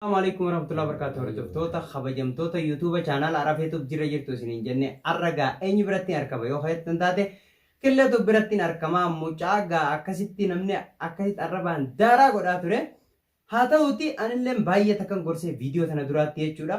Assalamu alaikum warahmatullahi wabarakatuh hordoftoota kabajamtoota YouTube channel Arab YouTube jirra jirtu isiniin jenne har'a gaa eenyu biratti arkama yoo keessan taate killeetu biratti arkama mucaa gaa akkasitti namni akkasitti arrabaan daaraa godhaa ture haa ta'uti anilleen baay'ee takkan gorsee viidiyoo tana duraatti jechuudha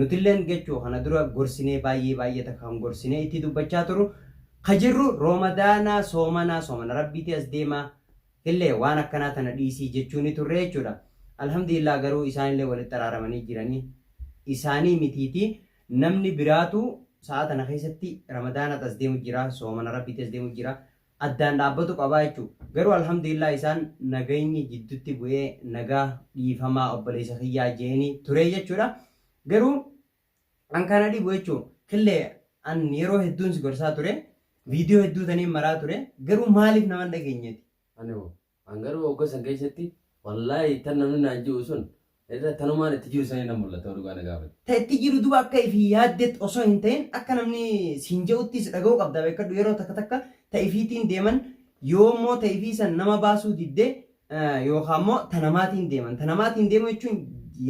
Nutilleen gechuu kana dura gorsinee baay'ee baay'ee takka kan gorsinee ittii dubbachaa turu ka jirru roomadaanaa soomanaa soomana rabbiitii as deemaa illee waan akkanaa tana dhiisii jechuu ni turree jechuudha alhamdulillah garuu isaan illee walitti araaramanii jiranii isaanii mitiitii namni biraatuu sa'aa tana keessatti ramadaanaat as deemu jira soomana rabbiitii as deemu jira addaan dhaabbatu qabaa jechuu garuu alhamdulillaah isaan nagayni jiddutti bu'ee nagaa dhiifamaa obboleessa kiyyaa jeeni turee jechuudha garuu an kana dhibu jechuu killee an yeroo hedduun si gorsaa ture viidiyoo hedduu taniin maraa ture garuu maaliif naman dhageenyeti Ani hoo? An garuu wagga san keessatti wallaahi tan namni naan ji'u sun irra tanumaan itti jiru sanii na mul'ata yoo dhugaa na gaafate. Ta itti jiru duba akka ifii yaaddetti osoo hin ta'in akka namni siin je'uttis dhaga'uu qabda beekkadhu yeroo takka takka ta ifiitiin deeman yoo immoo ta ifii san nama baasuu didde yookaa immoo ta namaatiin deeman ta namaatiin deemuu jechuun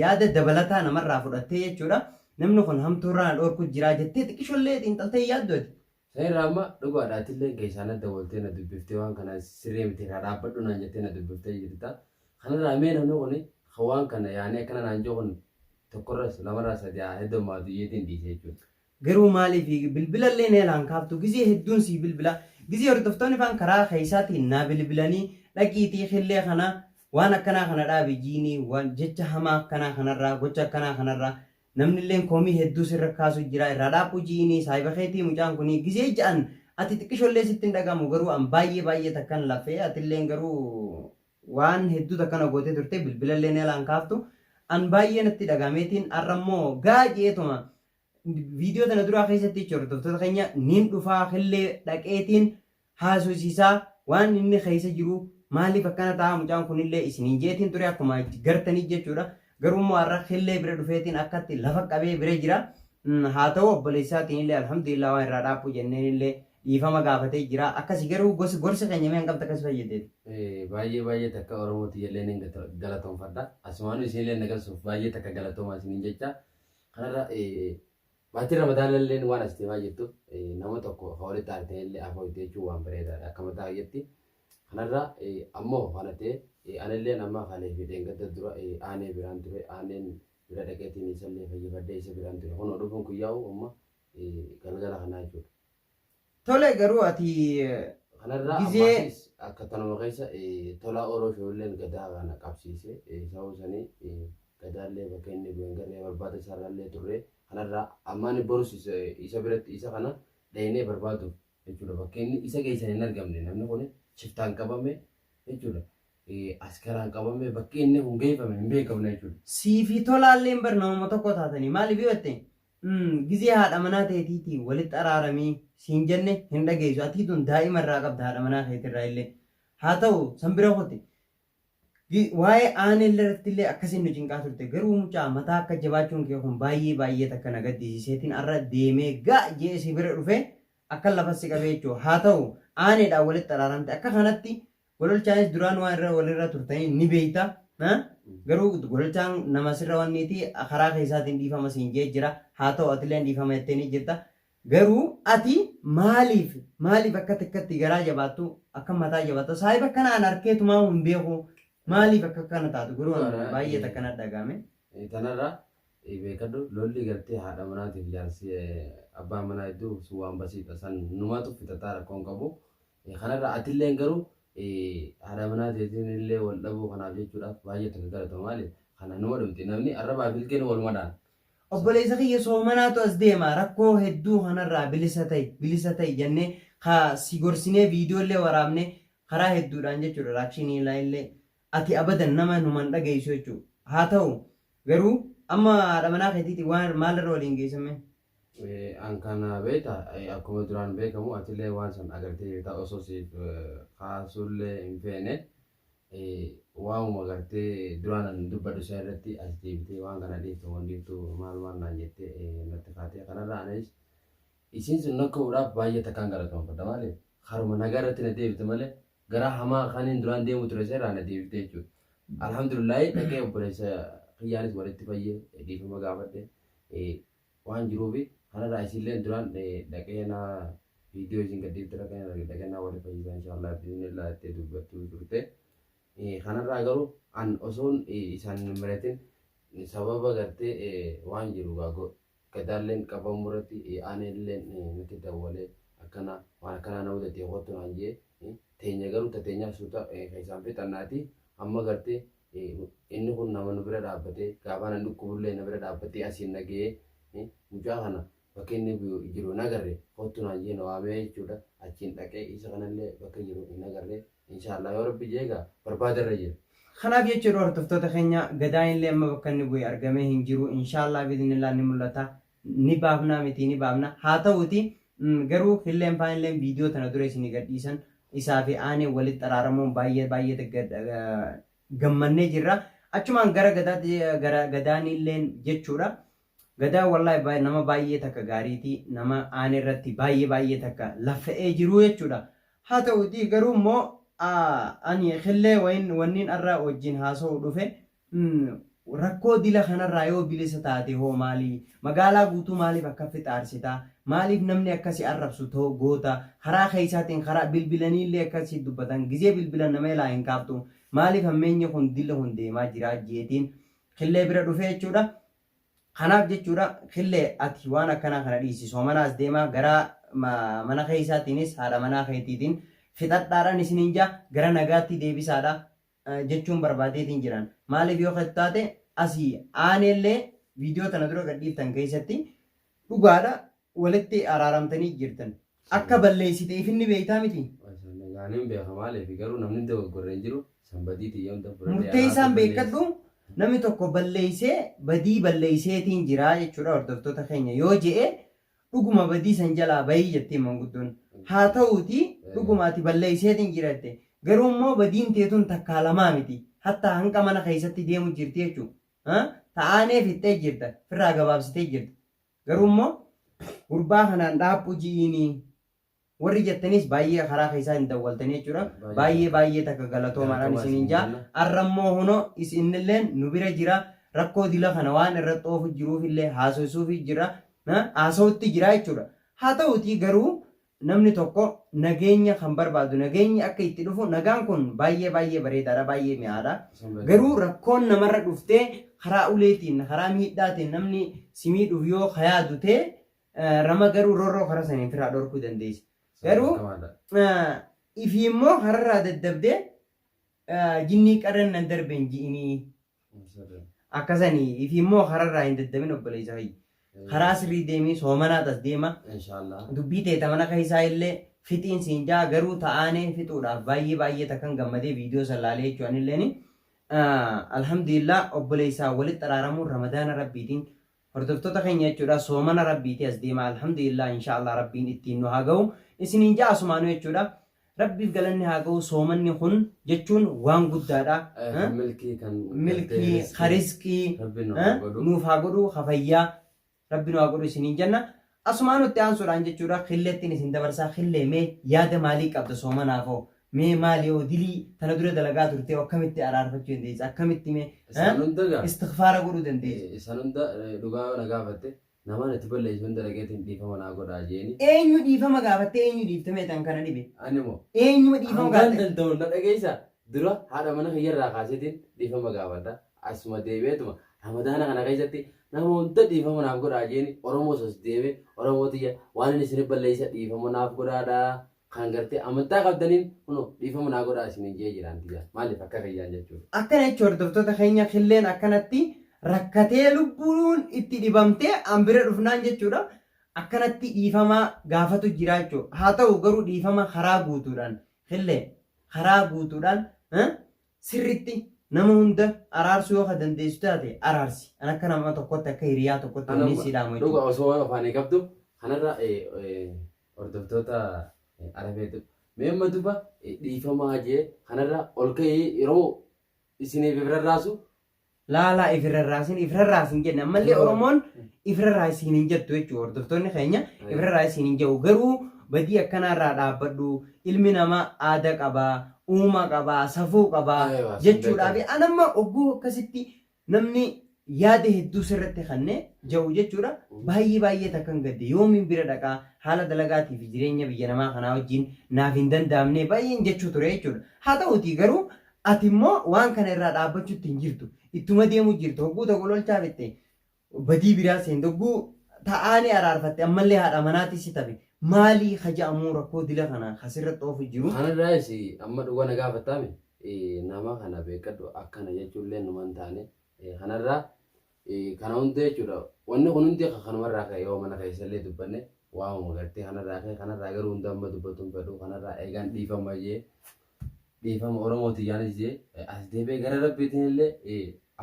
yaada dabalataa namarraa fudhattee jechuudha namni kun hamtuurraa na dhoorkuu jiraa jettee xiqqishollee xiinxaltee hin yaaddu ati Sairra amma dhugaadha atilleen keessaa na dawaltee na dubbiftee waan kana sirrii miti irraa dhaabbadhu naan jettee na dubbiftee jirta kanarraa mee namni kun kan waan kana yaanee akkana naan jiru kun tokkorras lamarraa sadii haa heddommaatu iyeetiin dhiise jechuudha. Garuu maaliif bilbilallee na jalaa hin kaaftu gizee hedduun sii bilbila gizee hordoftoonni faan karaa keessaatiin naa bilbilanii dhaqiitii killee kana waan akkanaa kana dhaabi jiinii waan jecha hamaa akkanaa kanarraa gocha akkanaa kanarraa Namnilleen komii hedduu sirra kaasu jira irraa dhaabbu ji'iini saahiba keetii mucaan kunii gizee ja'an ati xiqqishollee sitti hin dhaga'amu garuu an baay'ee baay'ee takkan lafee atilleen garuu waan hedduu takka na gootee turte bilbilalleen ela hin kaaftu an baay'ee natti dhaga'ameetiin arra immoo gaa je'eetuma viidiyoo tana duraa keessatti jechuudha hordoftoota keenya niin dhufaa killee dhaqeetiin haasosisaa waan inni keessa jiruu maaliif akkana ta'aa mucaan kunillee isiniin jeetiin ture akkuma gartanii jechuudha garuu immoo har'a killee bira dhufeetiin akkatti lafa qabee bira jira haa ta'u obboleessaatiin illee alhamdulillah waan irraa dhaabbuu jenneen illee dhiifama gaafatee jira akkasi garuu gosi gorsa keenya mee hanqabta akkas fayyadeeti. Baay'ee baay'ee takka Oromooti jallee nan galatoomfadha. Asumaanuu isinillee na galsuuf baay'ee takka galatoomaa isiniin jecha kanarra Baatiin Ramadaanalleen waan as deemaa jirtuuf nama tokko ka walitti aanteellee afooyte jechuun waan bareedaadha akka mataa kiyyaatti. Kanarraa ammoo kana ta'e anilleen amma kalee fi dheengadda dura aanee biraan ture aaneen bira dhaqeetiin isallee fayyifadhee isa biraan ture kunoo dhufuun kiyyaa'u amma galgala kanaa jechuudha. Tole garuu ati Kanarraa gizee ammaasiis akka tanuma keessa eh, tolaa oroo shoolleen gadaa kana qabsiise eh, sababa sanii eh, gadaallee bakka inni bu'een garree barbaada isaarraallee turre kanarraa ammaan borus isa, isa biratti isa kana dhaynee barbaaduuf jechuudha bakka inni isa geessan hin argamne namni kun shiftaan qabame jechuudha eh, askaraan qabame bakki inni kun geeffame hin beekamne jechuudha. sii fi tolaalleen barnooma tokko taatanii maaliif yoo jette Gizee haadha manaa teetiitii walitti araaramii siin jenne hin dhageessu. Atii tun daa'ima irraa qabda haadha manaa keetirraa illee. Haa ta'u san bira kote. Waa'ee aanee irratti illee akkasiin nu cinqaa turte. Garuu mucaa mataa akka jabaachuun kee kun baay'ee baay'ee takka na gaddisiiseetiin arra deemee gaa jee si bira dhufe akka lafa si qabee jechuudha. Haa ta'u aaneedhaan walitti araaramte. Akka kanatti Gololchaanis duraan waan irra walirra turtanii ni beeyta. ha? Garuu gololchaan nama sirra wanniiti karaa keessaatiin dhiifama siin jee jira. Haa ta'u atileen dhiifama jettee ni jirta. Garuu ati maaliif maaliif akka takkatti garaa jabaattu akka mataa jabaattu saahiba akkana an arkeetumaa hin beeku maaliif akka akkana taatu garuu an Dhugaadha, baay'ee eh. takkana dhagaame. Eh, Tanarraa eh, beekadhu lolli gartee haadha manaatiif jaarsi eh, abbaa manaa hedduu sun waan basiidha. San numaatu fixataa rakkoon qabu. Kanarraa atilleen garuu haadha manaa teetiin illee wal dhabuu kanaaf jechuudhaaf baay'ee itti galatama maali kana numa dhumti namni arrabaa fi ilkeen waluma dhaan. Obboleessa kiyya soomanaatu as deema rakkoo hedduu kanarraa bilisa ta'i bilisa ta'i jennee ka si gorsinee viidiyoo illee waraabnee karaa hedduudhaan jechuudha raakshinii ilaa illee ati abadan nama numa hin dhageessu jechuudha haa ta'u garuu amma haadha manaa keetiiti waan maalirra waliin geessammee. An kana beekta akkuma duraan beekamu atillee waan san agartee jirta osoo siif kaasuullee hin feene waamuma agartee duraan an dubbadhu san irratti as deebitee waan kana dhiiftu moo hin dhiiftu maal maal naan jettee natti kaatee kanarraa anis isiin sun nakka'uudhaaf baay'ee takkaan galatoomfadha maaliif haruma nagaa irratti na deebite malee garaa hamaa kanin duraan deemu ture seerraa na deebiftee jechuudha. Alhamdulillahi dhaqee obboleessa kiyyaanis walitti fayyee dhiifama gaafadhe waan jiruufi kanarraa isinillee duraan dhaqee na viidiyoo isin gadhiifte dhaqee na walitti fayyisaa inshaallah biiznillaa itti dubbattuu turte. Kanarraa garuu an osoon isaan hin miratin sababa gartee waan jiru gaa Gadaalleen qabamuurratti aaneelleen natti dawwalee akkana waan akkanaa na mudatee kottu naan jee teenya garuu ta teenyaa suuta keessaan fixannaati amma gartee inni kun nama nu bira dhaabbatee gaafaan an dhukkubullee na bira dhaabbatee asiin na ga'ee mucaa kana bakka inni jiru hin agarre kottu naan jee na waamee jechuudha achiin dhaqee isa kanallee bakka jiru hin agarre Inshallah yoo rabbi jee egaa barbaada irra jira. Kanaaf jecha yeroo hortoftoota keenya gadaan illee amma bakka inni bu'e argamee hin jiru inshaallaa biiznillaa ni mul'ata ni baafnaa mitii ni baafna haa ta'uuti garuu hilleen faan illeen viidiyoo tana dura isinii gadhiisan isaa fi aanee walitti xaraaramuun baay'ee baay'ee gammannee jirra achumaan gara gadaatti gara gadaanii illeen jechuudha Gadaa wallahi baay nama baay'ee takka gaariiti nama aane irratti baay'ee baay'ee takka laffa'ee jiruu jechuudha haa ta'uutii garuu immoo ani killee wayin wanniin arra wajjin haasa'u dhufe rakkoo dila kanarraa yoo bilisa taate hoo maali magaalaa guutuu maaliif akkaffi xaarsita maaliif namni akkasi arrabsu too goota karaa keessaatiin karaa bilbilanii illee akkasi dubbatan gizee bilbilan nama ilaa hin kaaftu maaliif hammeenyi kun dilli kun deemaa jira jeetiin killee bira dhufe jechuudha Kanaaf jechuudha kille ati waan akkanaa kana dhiisi soomanaas deemaa garaa mana keessaatiinis haadha manaa keetiitiin fixadhaadhaan isiniin jaa gara nagaatti deebisaadha jechuun barbaadeetiin jiran maaliif yoo keetu taate asii aaneellee viidiyoo tana dura gadhiiftan keessatti dhugaadha walitti araaramtanii jirtan akka balleessite ifin ni beektaa miti. Gaaniin beeka maaliif garuu namni dogoggorre hin jiru san badii tiyya hunda fudhadhee Murteessaan araarsa beekadhu balleessi. namni tokko balleessee badii balleesseetiin jiraa jechuudha hordoftoota keenya yoo je'e dhuguma badii san jalaa bahii jettiin manguddoon. Haa ta'uuti dhuguma ati balleesseetiin jira jette garuu immoo badiin teetun takkaa lamaa miti hatta hanga mana keessatti deemu jirti jechuudha. Ta'aanee fixxee jirta firraa gabaabsitee jirta. Garuu immoo gurbaa kanaan dhaabbu ji'iini warri jettaniis baay'ee karaa keessaa hin dawwaltanii jechuudha. Baay'ee baay'ee takka galatoomaadhaan isiniin jaa. Arra immoo hunoo isinnilleen nu bira jira. Rakkoo dila kana waan irratti oofu jiruuf illee haasoysuufi jira. Haasawutti jira jechuudha. Haa ta'uutii garuu Namni tokko nageenya kan barbaadu nageenyi akka itti dhufu nagaan kun baay'ee baay'ee bareedaadha baay'ee mi'aadha garuu rakkoon namarra dhuftee karaa uleetiin karaa miidhaatiin namni si miidhuuf yoo kayaadu ta'e rama garuu rorroo karaa saniin ofirraa dhorkuu dandeessa garuu ifi immoo kararraa daddabdee jinnii qarran nan darbeen ji'inii Akkasani ifi immoo kararraa hin daddamin obboleessa hayyi. Karaa sirrii deemii soomanaa tas deema. Inshaallah. Dubbii teeta mana keessaa illee fixiin siin jaa garuu ta'aanee fixuudhaaf baay'ee baay'ee takkan gammadee viidiyoo san laalee jechuu anilleeni. Alhamdulillah obboleessaa walitti araaramuun ramadaana rabbiitiin Hordoftota keenya jechuudha soomana rabbiiti as deema alhamdulillah inshaallah rabbiin ittiin nu haa gahu isiniin ja'a asumaanu jechuudha rabbiif galanni haa gahu soomanni kun jechuun waan guddaadha milkii kan milkii karizqii nuuf haa godhu kafayyaa rabbi nu haa godhu isiniin jenna Asumaan itti aansuudhaan jechuudha killeettiin isin dabarsaa killee mee yaada maalii qabda soomanaaf hoo mee maali hoo dilii tana dura dalagaa turtee akkamitti araarfachuu dandeessa akkamitti mee Isaan hunda gaa. istikfaara godhuu dandeessa. Eh, Isaan hunda eh, dhugaa yoo na gaafatte namaan itti balleessu hunda dhaqeetiin dhiifama naa godhaa jeeni. Eenyu dhiifama gaafattee eenyu dhiifte mee tan kana dhibe Ani moo eenyuma dhiifama hangaan gaafatte danda'u na dhageessa dura haadha mana kiyyarraa kaaseetiin dhiifama gaafadha. Asuma deebi'eetuma ramadaana kana keessatti nama hunda dhiifama naaf godhaa jeeni Oromoo sos deeme Oromoo tiyya waan inni isinif balleessa dhiifama naaf godhaadha kan gartee amantaa qabdaniin kuno dhiifama naa godhaa isiniin jee jiraan tiyya maaliif akka kiyyaan jechuudha. Akkana jechuun hordoftoota keenya killeen akkanatti rakkatee lubbuun itti dhibamtee an bira dhufnaan jechuudha akkanatti dhiifama gaafatu jira jechuudha. Haa ta'u garuu dhiifama karaa guutuudhaan killee karaa guutuudhaan Sirritti nama hunda araarsuu yoo ka dandeessu taate araarsi. An akka nama tokkotti akka hiriyaa tokkotti Ana wanni sii dhaamu dhuga jechuudha. osoo waan ofaan eegabdu kanarra eh, eh, hordoftoota eh, arafeetu mee amma duba eh, dhiifamaa jee kanarra ol ka'ee yeroo isiniif irra raasu Laalaa if rarraasin if rarraasin jenne ammallee Oromoon if rarraasiin hin jettu jechuudha hordoftoonni keenya if rarraasiin hin jedhu garuu badii akkanaarraa dhaabbadhu ilmi namaa aada qabaa uuma qabaa safuu qabaa Eewa, sin jechuudhaa fi beekama. anamma ogguu akkasitti namni yaada hedduu sirratti kannee ja'u jechuudha baay'ee baay'ee takkan gadde yoomiin bira dhaqaa haala dalagaatii fi jireenya biyya namaa kanaa wajjin naaf hin danda'amne baay'een jechuu ture jechuudha haa ta'uutii garuu Ati immoo waan kana irraa dhaabbachuutti hin jirtu. Ittuma deemuu jirta. Hogguu tokko lolchaa fixxe badii biraa seente. Hogguu ta'aanii araarfatte ammallee haadha manaatii si tafe. Maalii ka ja'amuu rakkoo dila kana ka sirratti oofu jiru? Kana irraayis amma dhuga na gaafattaami? Nama kana beekkadhu akkana jechuullee numa hin taane. Kana irraa Kana hunda jechuudha wanni kun hundi kanumarraa ka'e yoo mana keessallee dubbanne waamuma gartee kanarraa ka'e kanarraa garuu hunda amma dubbatuun fedhu kanarraa eegaan dhiifama jee dhiifama Oromoo tiyyaanis jee as deebi'ee gara rabbiitiin illee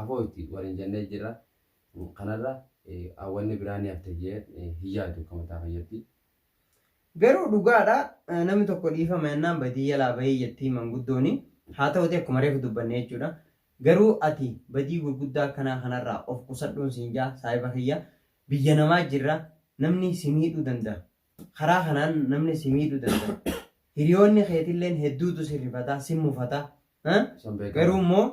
afoo itti waliin jennee jirra kanarra wanni biraa ni hafte jee hin yaadu akka mataa fayyatti. Garuu dhugaadha namni tokko dhiifama yennaan badii jalaa bahii jettii manguddooni. Haa ta'uti akkuma reefu dubbanne jechuudha. Garuu ati badii gurguddaa akkanaa kanarraa of qusadhuun siin jaa saahiba kiyya. Biyya namaa jirra namni si miidhuu danda. Karaa kanaan namni si miidhuu danda. Hiriyoonni keetilleen hedduutu si rifataa si mufataa Garuu immoo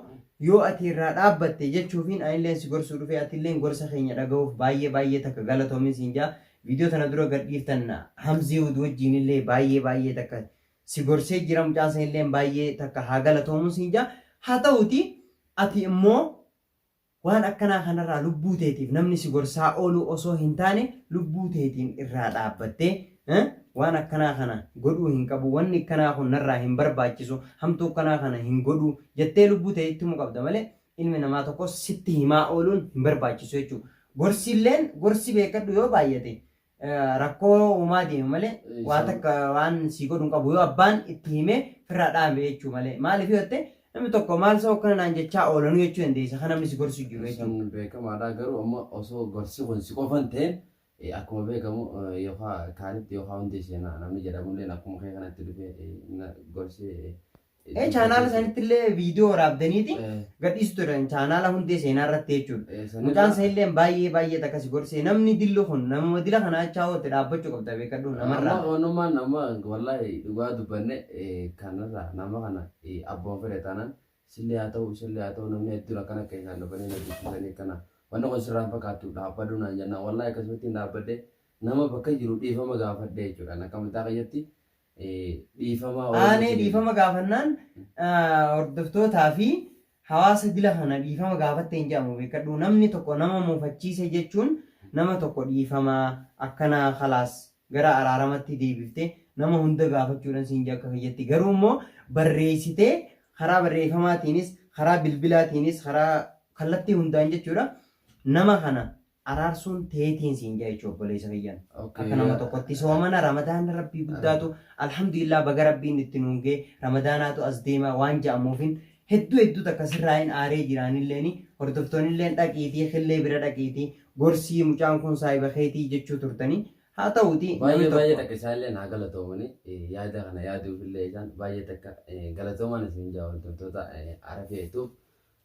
yoo ati irraa dhaabbatte jechuufiin anilleen si gorsuu dhufe atilleen gorsa keenya dhagahuuf baay'ee baay'ee takka galatoomin siin jaa viidiyoo tana dura gad dhiiftan hamziiwud wajjiin illee baay'ee baay'ee takka si gorsee jira mucaan san illeen baay'ee takka haa galatoomu siin jaa haa ta'uti ati immoo Waan akkanaa kanarraa lubbuu teetiif namni si gorsaa ooluu osoo hin taane lubbuu teetiin irraa dhaabbattee waan akkanaa kana godhuu hin qabu, wanni akkanaa kun narraa hin barbaachisu, hamtuu akkanaa kana hin godhu jettee lubbuu tee itti himuu qabda malee ilmi namaa tokkos sitti himaa ooluun hin barbaachisu jechuudha. Gorsilleen gorsi beekkadhu yoo baay'ate rakkoo uumaa deema malee Eh, waan isaan- takka waan sii godhu hin qabu yoo abbaan itti himee firraa dhaame jechuu malee maaliif yoo ta'e namni tokko maal soo akkana naan jechaa oolanuu jechuu dandeessa kan namni si gorsu jiru jechuudha. Sun beekamaadha garuu amma osoo gorsi kun si qofan ta'een eh, akkuma beekamu eh, yookaan kaanitti yookaan hundee seenaa namni jedhamulleen akkuma kee kanatti dhufee eh, na- gorsi eh, Eh, chaanaala sanitti illee viidiyoo waraabdaniiti gadhiisu turan chaanaala hundee seenaa irratti jechuudha. Mucaan isaa illee baay'ee baay'ee takka si gorsee namni dilli kun namuma dila kana achaa oote dhaabbachuu qabda beekadhu Amma namarraa. onumaan amma wallahi dhugaa dubbanne eh, kanarraa nama kana eh, abboon fedhe taanaan sillee haa ta'u isallee haa ta'u namni hedduun akkana keessaan dhufanii na dubbisanii akkana wanni kun sirraan fakkaattu dhaabbadhu naan jennaan wallahi akkasumatti hin dhaabbadde nama bakka jiru dhiifama gaafadhe jechuudhaan akka mataa keenyatti aanee dhiifama gaafannaan hordoftootaa fi hawaasa dila kana dhiifama gaafatte hin jedhamu beekadhu namni tokko nama mufachiise jechuun nama tokko dhiifama akkanaa kalaas gara araaramatti deebifte nama hunda gaafachuudhan siin akka kiyyatti garuu immoo barreessitee karaa barreeffamaatiinis karaa bilbilaatiinis karaa kallattii hundaan jechuudha nama kana araarsuun teetiin siin jaa jechuu obboleessa kiyyan Okay, akka nama yaa- tokkotti soomana ramadaana rabbii guddaatu alhamdulillah baga rabbiin itti nuun gee ramadaanaatu as deema waan ja'amuufin hedduu hedduu takka sirraa hin aaree jiraanilleeni hordoftoonilleen dhaqiitii killee bira dhaqiitii gorsii mucaan kun saahiba keetii jechuu turtanii haa ta'uuti namni Baay'ee baay'ee tokko- takka isaallee naa galatoomani Eh, yaada kana yaaduufillee isaan baay'ee takka eh, galatoomaan isin jaa hordoftoota eh, Arafee Yutuub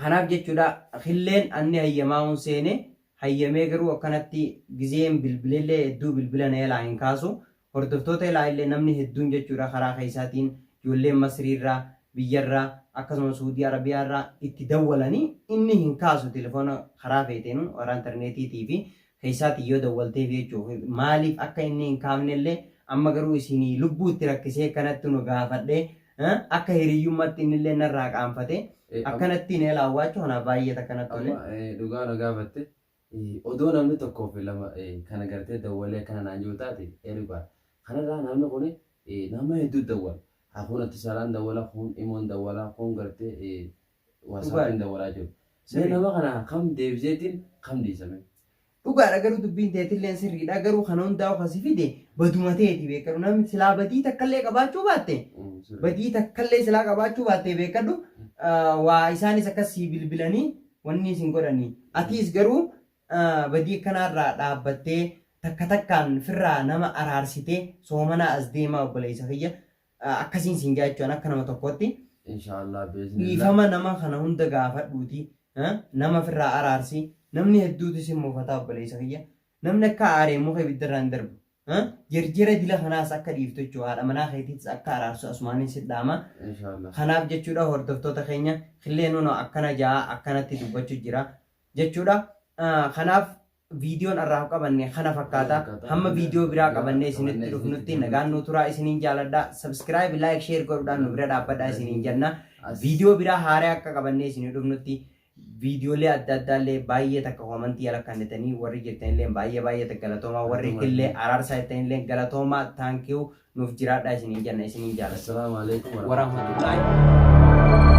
Kanaaf jechuudha killeen anni hayyamaa'uun seene, hayyamee garuu akkanatti gizeen bilbilellee hedduu bilbila na jalaa hin kaasu. Hordoftoota ilaa illee namni hedduun jechuudha karaa keessaatiin ijoolleen Masrii irraa, biyya irraa, akkasuma Suudii Arabiyaa irraa itti dawwalanii inni hin kaasu telefoona karaa feeteenuu karaa interneetiitii fi keessaatii yoo dawwalteef jechuuf maaliif akka inni hin kaafne illee amma garuu isin lubbuu itti rakkisee akkanatti nu gaafadhee akka hiriyyummatti inni illee narraa qaanfatee akkanatti na ilaawwaachuu kanaaf baay'ee takka natti tole. Amma dhugaa na gaafatte odoo namni tokkoo fi lama kana gartee dawwalee akkana naan jiru taate ergaa kanarraa namni kun nama hedduu dawwala. Kun atisalaan dawwala kun imoon dawwala kun gartee Waasaatiin dawwalaa jiru. Mee nama kana kam deebiseetiin kam dhiisame. Dhugaadha garuu dubbiin teetilleen sirriidha garuu kana hundaa'u kasi fide baduma teeti beekadhu namni silaa badii takkallee qabaachuu baatte badii takkallee silaa qabaachuu baatte beekadhu waa isaanis akkas sii bilbilanii wanni isin godhanii atiis garuu badii akkanaarraa dhaabbattee takka takkaan firraa nama araarsitee soomanaa as deemaa obboleessa kiyya akkasiin siin jaa jechuun akka nama tokkootti Inshaallah beeksisa. dhiifama nama kana hunda gaafadhuuti eh, nama ofirraa araarsi namni hedduutu sin mufataa obboleessa kiyya namni akka aaree muka ibiddarraa hin darbu eh, jirjira dila kanaas akka dhiiftu jechuudha haadha manaa keetiitis akka araarsu asumaaniin si dhaama Inshaallah. kanaaf jechuudha hordoftoota keenya killee nuno akkana ja'a akkanatti dubbachuu jira jechuudha Ah, kanaaf Viidiyoon har'aaf qabanne kana fakkaata. Hamma viidiyoo biraa qabannee isinitti dhufnutti nagaan nuu turaa isiniin jaaladha. Subscribe, like, share godhuudhaan nu bira dhaabbadhaa isiniin jenna. Viidiyoo biraa haaraa akka qabannee isinii dhufnutti viidiyoolee adda addaa illee baay'ee takka koomantii ala kannitanii warri jirtan illee baay'ee baay'ee takka galatoomaa warri illee araarsaa jettan illee galatoomaa taankiyuu nuuf jiraadhaa isiniin jenna isiniin jaaladha. Assalaamu alaikum warahmatullahi Waraahmatullaahi.